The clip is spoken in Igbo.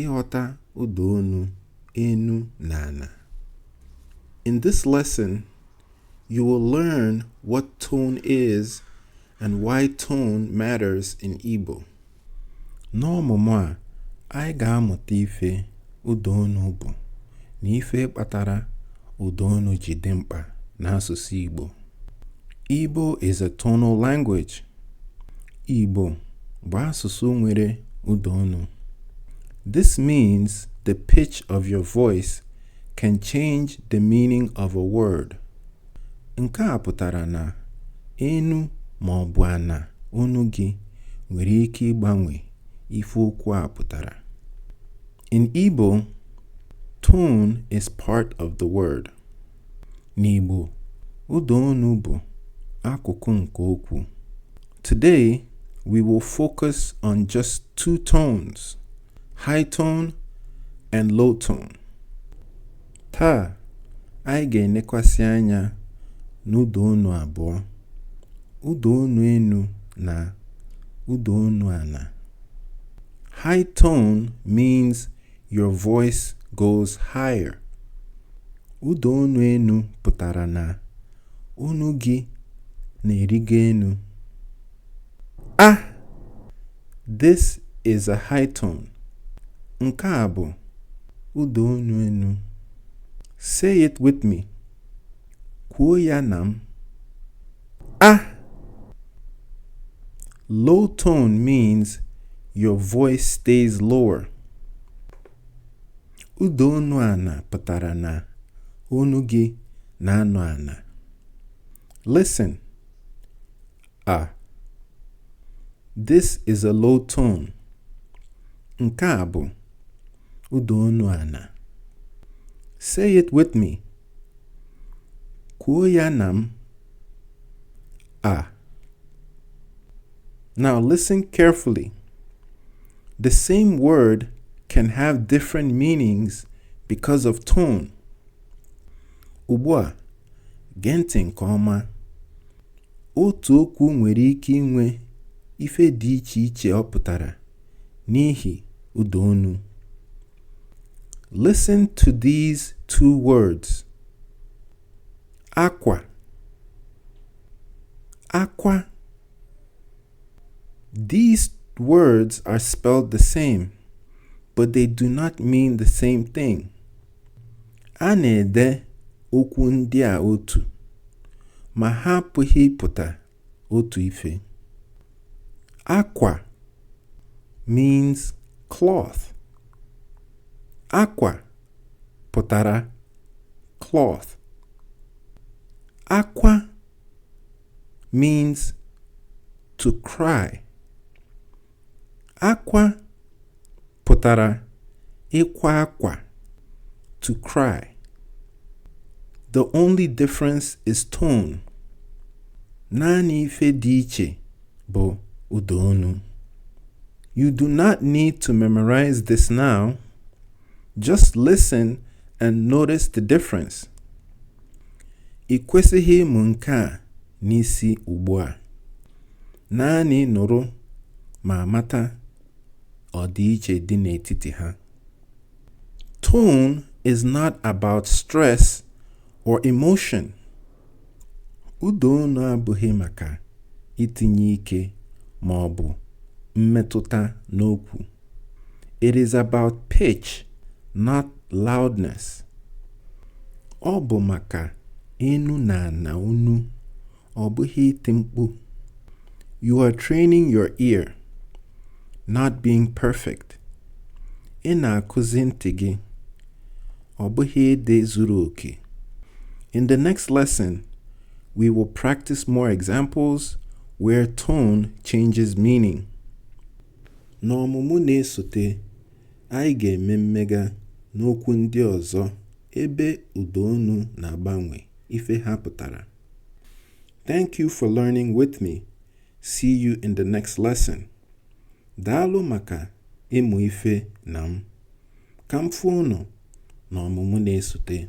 Ịghọta ụda onu enu na ana. In this lesson, you will learn what tone is and why tone matters in Igbo. N'ọmụmụ a, anyị ga-amụta ife ụda onu bụ na ife kpatara ụda onu ji dị mkpa n'asụsụ Igbo. Igbo is a tonal language. Igbo bụ asụsụ nwere ụda onu. This means the pitch of your voice can change the meaning of a word. Nke a pụtara na enu ma ọ bụ ana onu gị nwere ike ịgbanwe ife okwu a pụtara. In Igbo, tone is part of the word. N'Igbo, ụda onu bụ akụkụ nke okwu. Today, we will focus on just two tones, high tone and low tone. Taa, anyị ga-enekwasị anya n'ụda onu abụọ, ụda onu enu na ụda onu ana. High tone means Your voice goes higher. Ụda onu enu pụtara na onu gị na-erigo enu. A. This is a high tone. Nke a bụ ụda onu enu. Say it with me. Kwuo ya na m. A. Low tone means your voice stays lower. Ụda onu ana pụtara na onu gị na-anọ ana. Listen. A. This is a low tone. Nke a bụ ụda onu ana. Say it with me. Kwuo ya na m. A. Now listen carefully. The same word can have different meanings because of tone. Ugbu a, Gee ntị nke ọma. Otu okwu nwere ike inwe ife dị iche iche ọ pụtara n'ihi ụda onu. Listen to these two words. Akwa. Akwa. These words are spelled the same, but they do not mean the same thing. A na-ede okwu ndị a otu, ma ha apụghị ịpụta otu ife. Akwa means cloth. Akwa pụtara cloth. Akwa means to cry. Akwa pụtara ịkwa akwa, to cry. The only difference is tone. Naanị ife dị iche bụ ụda onu. You do not need to memorize this now. Just listen and notice the difference. Ị kwesịghị ịmụ nke a n'isi ugbu a. Naanị nụrụ ma mata ọdịiche dị n'etiti ha. Tone is not about stress or emotion. Ụda onu abụghị maka itinye ike ma ọ bụ mmetụta n'okwu. It is about pitch, not loudness. Ọ bụ maka enu na ana onu, ọ bụghị iti mkpu you are training your ear not being perfect ị na-akụzi ntị gị ọ bụghị ịdị zuru oke in the next lesson we will practice more examples where tone changes meaning n'ọmụmụ na-esote anyị ga-eme mmega n'okwu ndị ọzọ ebe ụda onu na-agbanwe ife ha pụtara. Thank you for learning with me. See you in the next lesson. Daalụ maka ịmụ ife na m. Ka m fụ unu n'ọmụmụ na-esote.